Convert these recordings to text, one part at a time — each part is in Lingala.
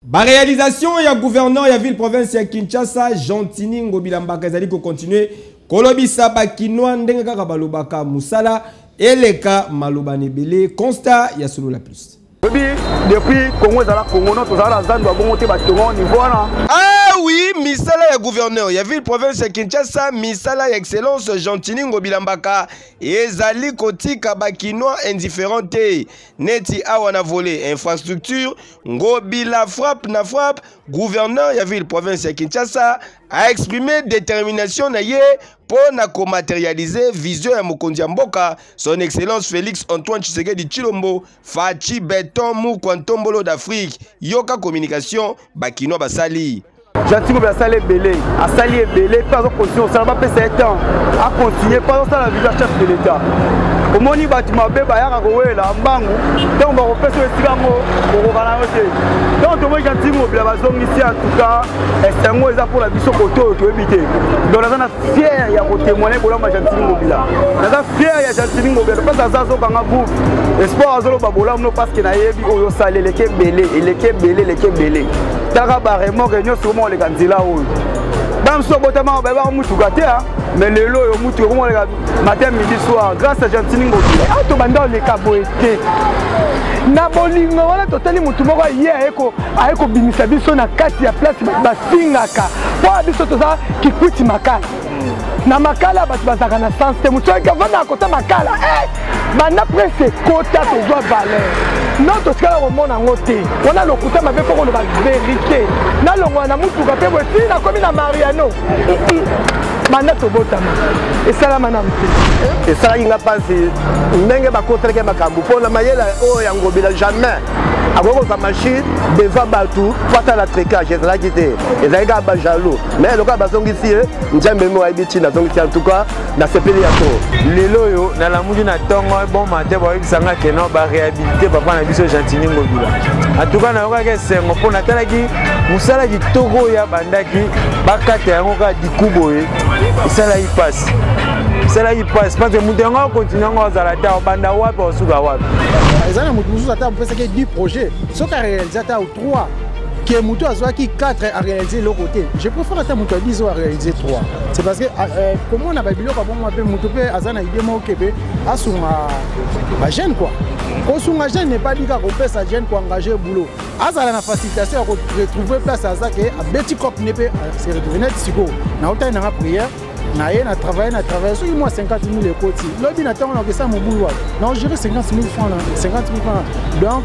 Ba réalisation ya gouverneur ya ville province ya Kinshasa Gentini Ngobila Mbaka ezali ko continuer kolobisa ba kinois ndenge kaka balobaka musala eleka maloba nebele constat ya solo la plus. Obi depuis Congo ezala Congo no tozala na zando ya bongo te batongo niveau wana. Ah oui, misala ya gouverneur ya ville province ya Kinshasa, misala ya excellence Gentini Ngobila Mbaka ezali kotika ba kinois indifférent te. Neti awa na volet infrastructure Ngobila frappe na frappe, gouverneur ya ville province ya Kinshasa a exprimé détermination na ye mpo na komaterialize vision ya mokonzi ya mboka son excellence Felix Antoine Tshisekedi Tshilombo Fatshi Beton Mukwa Ntombolo d'Afrique yoka communication bakinois basali Gentil Ngobe asali ebele asali ebele mpe azo continue kosala bapesa ye temps acontinue mpe azosala viva chef de l'etat omoni bato mabe bayaka kowela mbangu ntango bakopesa esika yango kokoka na yo te ntango tomoni Gentil Ngobe bazongisi en tout cas esengo eza mpo na biso kote oyo toyebi te donc naza na fiere ya kotemoigne bolamba Gentil Ngobe la naza fiere ya Gentil Ngobe parce aza azokanga groupe espoir azoloba bolamu no parce que nayebi oyo osala eleki ebele eleki ebele eleki ebele taka baremoke nyonso koma koleka nzela oyo bamisusu abotamaka bayebaka motuka te mais lelo oyo motuka koma koleka matin midi soir grâce à gentini ngoki awa ah, tobanda koleka boye te na bolingo wana totali motu moko aye aye kobimisa biso na kati ya place basingaka mpo biso toza kikwiti makasi na makala bato bazalaka na sens te moto soki avanda na kota makala eh, banda prese kota tozwa valeur no totikala komona yango te wana lokuta mabe mpo koloba verite nalongwa na motuka mpe boye tii nakomi na mariano banda tobotama esalama na mpe esalaki nga mpasi ndenge bakotelaki makambo mpo na mayele oyo ya ngobila jamais akoki kozwa machine devant bato mpo asala tricage ezalaki te ezalaki kaka bajalou mais lokola bazongisi ye nzambe mo ayebi ntina azongisi en tout cas nasepeli ya trop lelo oyo nalamuki na ntongo bon mate bayebisa nga keno baréhabilité papa na biso gentini ngobila en tout cas nayokaki esengo mpo natalaki mosala kitoko oyo abandaki bakata yango kaka diku boye esalaki mpasi esalaki mpasi parce que moto yango akontinue yango azala te obanda wapi osuka wapi eza na moto mosusu ata opesaki 10 projet soki arealise ata 3 que moto azwaki 4 a réalise eloko te je préfère ata moto ya 10 oyo a réalise 3 c'est parce que ah, euh, komona babiloko abongo mpe moto mpe aza na idée moko kebe asunga bajeune quoi kosunga jeune n'est pas dit kaka kopesa jeune koengage boulot azala na facilitation ya koretrouve place aza ke abeti cop ne mpe se retrouve neti sikoyo naotali nanga prière na ye na travaille na travaille soki mwa 50 000 ekoti lobi na ntango nakesa mobulu wana na ogere 50 000 franc 50 000 franc donc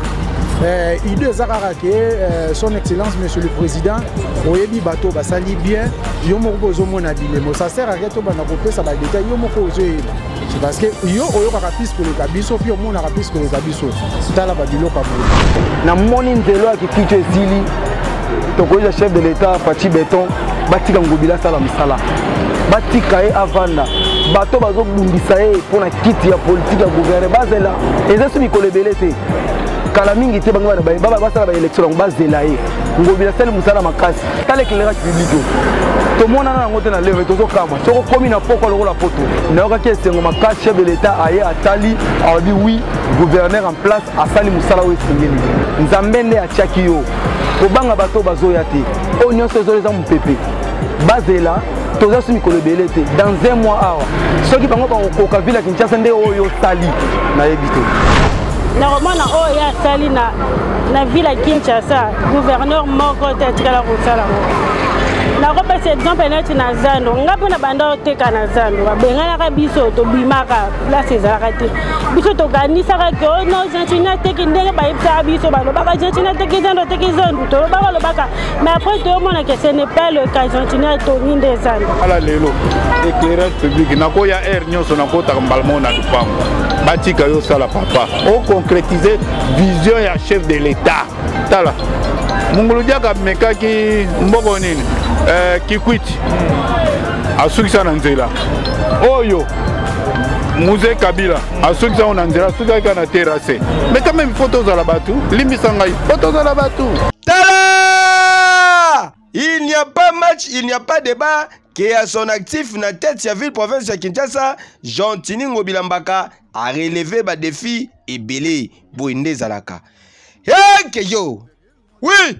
euh, idée eza kaka ke euh, son excellence monsieur le président oyebi bato basali bien yo moko mpe ozomona bilemo sa sert ake tobanda kopesa badetail yo moko ozoyeba C'est parce que yo oyokaka plus koleka biso puis omonaka plus koleka biso tala babiloko ya boye namoni nzelo ya kikitu esili tokoyisa chef de l'état faci beton batika ngobila asala mosala batika ye avanda bato bazobundisa ye mpo na kiti ya politike ya gouverne bazela eza so mikolo ebele te kala mingi te bango basala baélection yango bazela ye ngobila asali mosala makasi tala éclairage public oyo tomonana yango te na leve tozokamwa soki okomi na pokwa lokola poto nayokaki esengo makasi chef de l'état aye atali alobi wi gouverneur en place asali mosala oyo esengeli nzambe nde atiaki yo kobanga bato bazoya te oyo nyonso ezola eza mopepe bazela toza so mikolo ebele te dans un mois awa soki bango bakokoka ville ya kinshasa nde oyo osali nayebi te nakomona oyo ye asali na na ville ya kinshasa gouverneur moko te atikala kosala ngo nakopesa exemple neti na zando ngai mpe na banda oteka na zando babenganaka biso tobimaka place ezalaka te biso tokanisaka ke oh no gentini ateki ndenge bayebisaka biso balobaka gentini ateki zando ateki zando tolobaka olobaka mais après toyomona ke ce n'est pas le cas gentini atongi nde zando ala lelo éclairage public nakoya aire nyonso nakotaka mbala moko na lupango batika yo osala papa o concrétiser vision ya chef de l'État tala mungulu diaka amekaki mboko nini eh, kikwiti hmm. asukisa na nzela oyo muze kabila asukisa yango na nzela asukisaki kaka na terase mais quand même fo tozala bato limbisa ngai fo tozala bato tala Il n'y a pas match, il n'y a pas débat que à son actif na tête ya ville province ya Kinshasa, Gentini Ngobila Mbaka a relevé ba défis ebele boye nde ezalaka. Hey, que yo! Oui!